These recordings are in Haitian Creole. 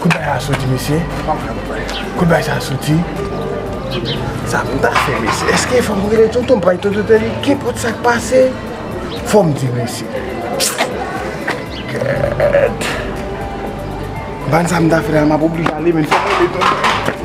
Kot bagay la soti mesye? Kot bagay sa soti? Sa pou m ta fè mesye? Eske fò m rele tonton Pay, tonton Tèli? Kenpòt sa k pase, fò m di mesye. Gèèt! M pa konn sa m ta fè la, m ap oblije ale men fò m rele tonton.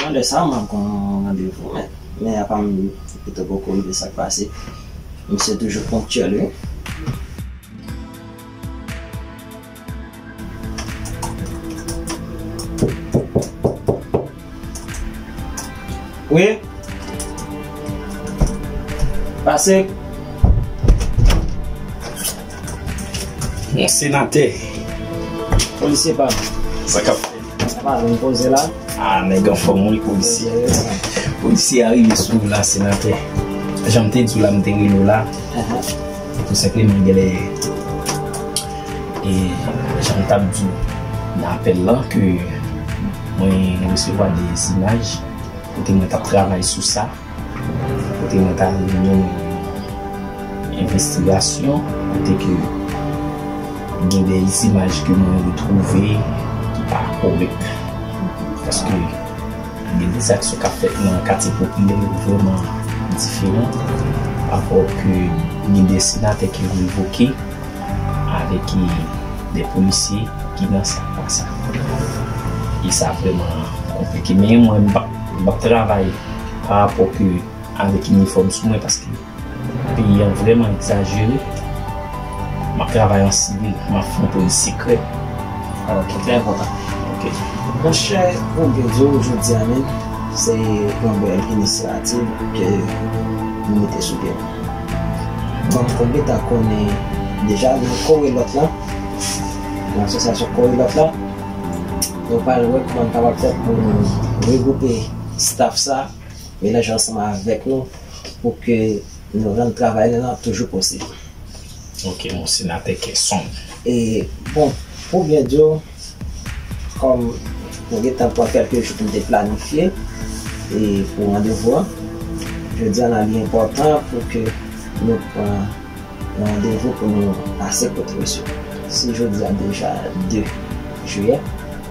Nan lè sa map gon randevou men men apa m pito poko rive sak pase misye toujou ponktyèl wi. Wi Pase Yon senatè Polisye pam Sa kap fèt. Sa pa vin poze la. Ah nèg anfòm wi polisye. Polisye a rive sou ou la senatè. Janm te di w la m te rele w la. Tou senpleman gen lè e janm t ap di w nan apèl lan ke mwen resevwa 2 imaj kote mwen t ap travay sou sa. kote mwen ta vle mennen nou yon envestigasyon kote ke gen de izimaj ke mwen retwouve ki pa korek paske gen de zak sou kap fèt nan katye popilè yo vreman diferan apò ke gen de senatè ki revoke avèk de polisye ki nan sa pa sa e sa vreman konplike men mwen m ap travay pa rapò ke avèk inifòm sou mwen paske peyi an vrèman egzajere map travay an sivil map fè yon polis sekrè alò ki trè enpòtan ok. Monchè ou byen di w jodi a menm se yon bèl inisyativ ke nou mete sou pye an m konn gentan konnen deja nan korelòt la nan asosyasyon korelòt la nou pral wè kòman n kapab fè pou nou regwoupe Staff sa melanje ansanm avèk nou pou ke nou rann travay nou lan toujou posib. Ok mon senatè kè sonb. E bon pou byen di w kòm mwen gentan pran kèlke jou pou m te planifye e pou randevou an jodi an la li enpòtan pou ke nou pran yon randevou pou nou pase kote misye se jodi a deja 2 jiyè.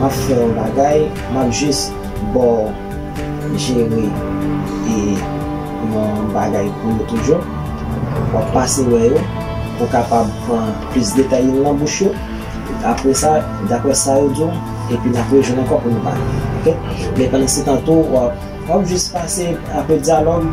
Map fè yon bagay map jus baw jere e yon bagay pou yo toujou wap pase wè yo pou kapab pran plis detay yo nan bouch yo apre sa daprè sa yo diw epi nap rejwenn ankò pou nou pale ok men pandan se tan tou wap jus pase apre dyalòg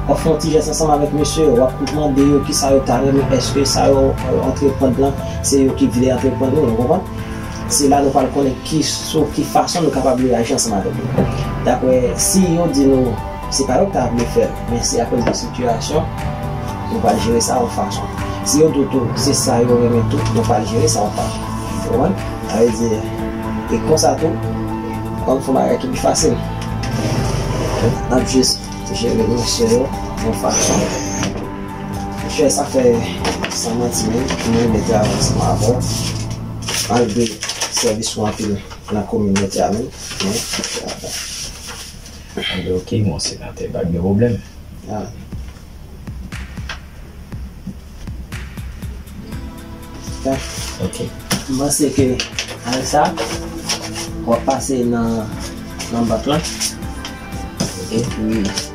wap fè yon ti jès ansanm avèk mesye yo wap mande yo kisa yo ta renmen eske sa yo antre prann lan se yo ki vle antre prann lan ou konprann. Se la nou pral konnen ki sou ki fason nou kapab reyaji ansanm avèk yo. Dapre si yo di nou se pa yo ki ta vle fè l, men se akoz de sitiyasyon, nou pral jere sa yon fason. Si yo di w tou se sa yo renmen tou, nou pral jere sa yon fason. Ou konprann? Sa vle di, e konsa tou, ou konn fè bagay ki pi fasil. N ap jis jere emosyon yo yon fason. Chè, sa fè, san manti menm, m renmen travay ansanm avè w. anlve sèvis ou anpil nan kominote a menm men anlve ok mon senatè pa gen problèm. Ok m panse ke avèk sa wap pase nan bank lan ok epi.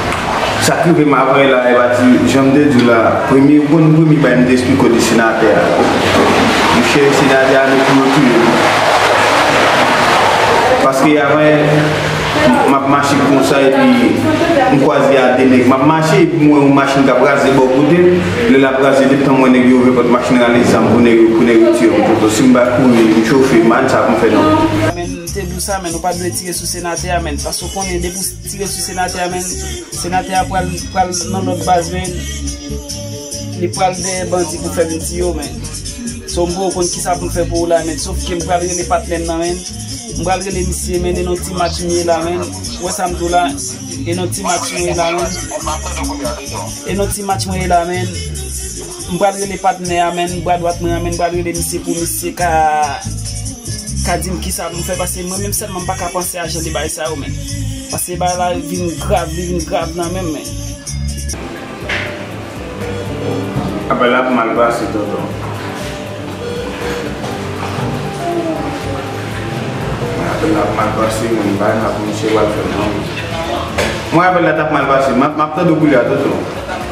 Sak rive m avèy la epa ti janm te diw la premye yo konn premye bay m te esplike w de senatè a monchè senatè a nou pou yo touye m paske avèy map mache konsa epi m kwaze a de nèg map mache epi m wè yon machin kap raze bò kote m lè lap raze detan m wè nèg yo ouvè pòt machin nan rale zam pou nèg yo pou nèg yo tire m poto sim pa kouri m chofe m anh sa poum fè non. Menn te di w sa menn ou pat dwe tire sou senatè a menn paske w konnen depi w. Tire sou senatè a menn. Senatè a pral pral nan lòt baz menn. Li pral dèyè bandi pou fè vin tiye w menn. So m poko konn kisa pou m fè pou ou la menn. Sof ke m pral rele patnè m nan menn. M pral rele misye menn e non ti match m ye la menn. Ou wè sa m di w la. E non ti match mwen ye la menn. E non ti match mwen ye la menn. M pral rele patnè a menn bra dwat mwen an menn pral rele misye pou misye ka ka dim kisa pou m fè pase mwen menm sèlman m pa ka panse a jan de bagay sa yo menn pase bagay la vin grav li vin grav nan menm menn. Apèl la ap mal pase tonton. Apèl la ap mal pase menn bagay sa pou misye pral fè nan menn. Mwen apèl la tap mal pase map tande w koulye a tonton.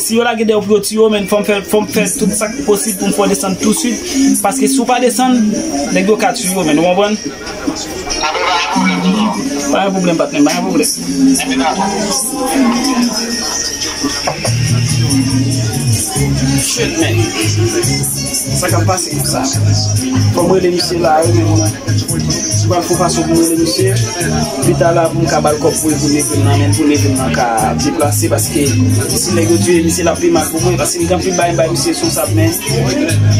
Si yo lage deyò pou yo tiye w men fòm fè fòm fè tout sak posib poum fè w desann tou swit paske si w pa desann nèg yo ka tiye w men ou konprann. Anben pa gen pwoblèm toujou. Pa gen pwoblèm patnèm pa gen pwoblèm. Anben dakò. Shit man. Sa kap pase pou sa. Fom rele misye la wi men mwen pral fon fason poum rele misye pita la poum ka bal kob pou evrim nan men pou evrim nan ka deplase paske si neg yo tiye misye lap pi mal pou mwen paske gen anpil bagay m bay misye sou whatsapp men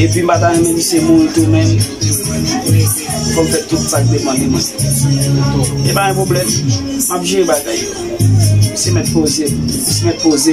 epi m pata renmen misye mouri tou men fom fe tout sak depan de mwen e pa yon problem map jere bagay yo misye met poze misye met poze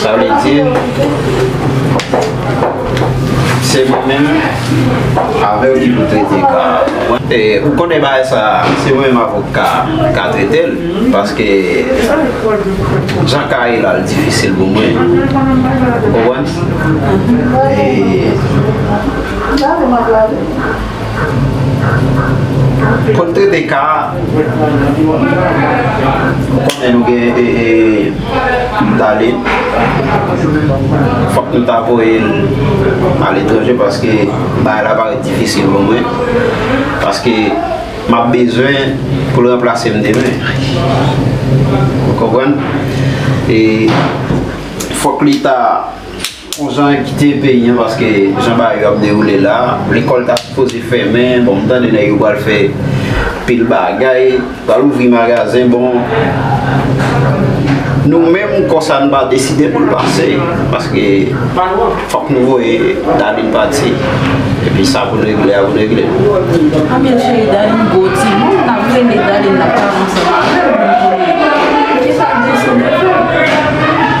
Sa vle di, se mwen menm avè w ki pou trete ka a. E ou konnen bagay sa a, se mwen menm avè w ka ka trete l. Paske jan ka ye la li difisil pou mwen. Ou konprann? E. Kot trete ka a? Ou konnen nou gen Daline. Fok nou ta voye l a letranje paske bagay la parèt difisil pou mwen. Paske m ap bezwen pou l ranplase m demen. Ou konprann? E fok li ta. Bon jan yo kite peyi an paske jan bagay yo ap dewoule la, lekòl ta sipoze fèmen, bon m tande nèg yo pral fè pil bagay, pral ouvri magazen, bon nou menm kò sa n pa deside pou l pase paske fòk nou voye Darline pati epi sa pou n regle a pou n regle l. Anmyèl cheri Darline gwo timoun m tap renmen Darline ap pale ansanm avè m pou m konnen kisa Josene fè.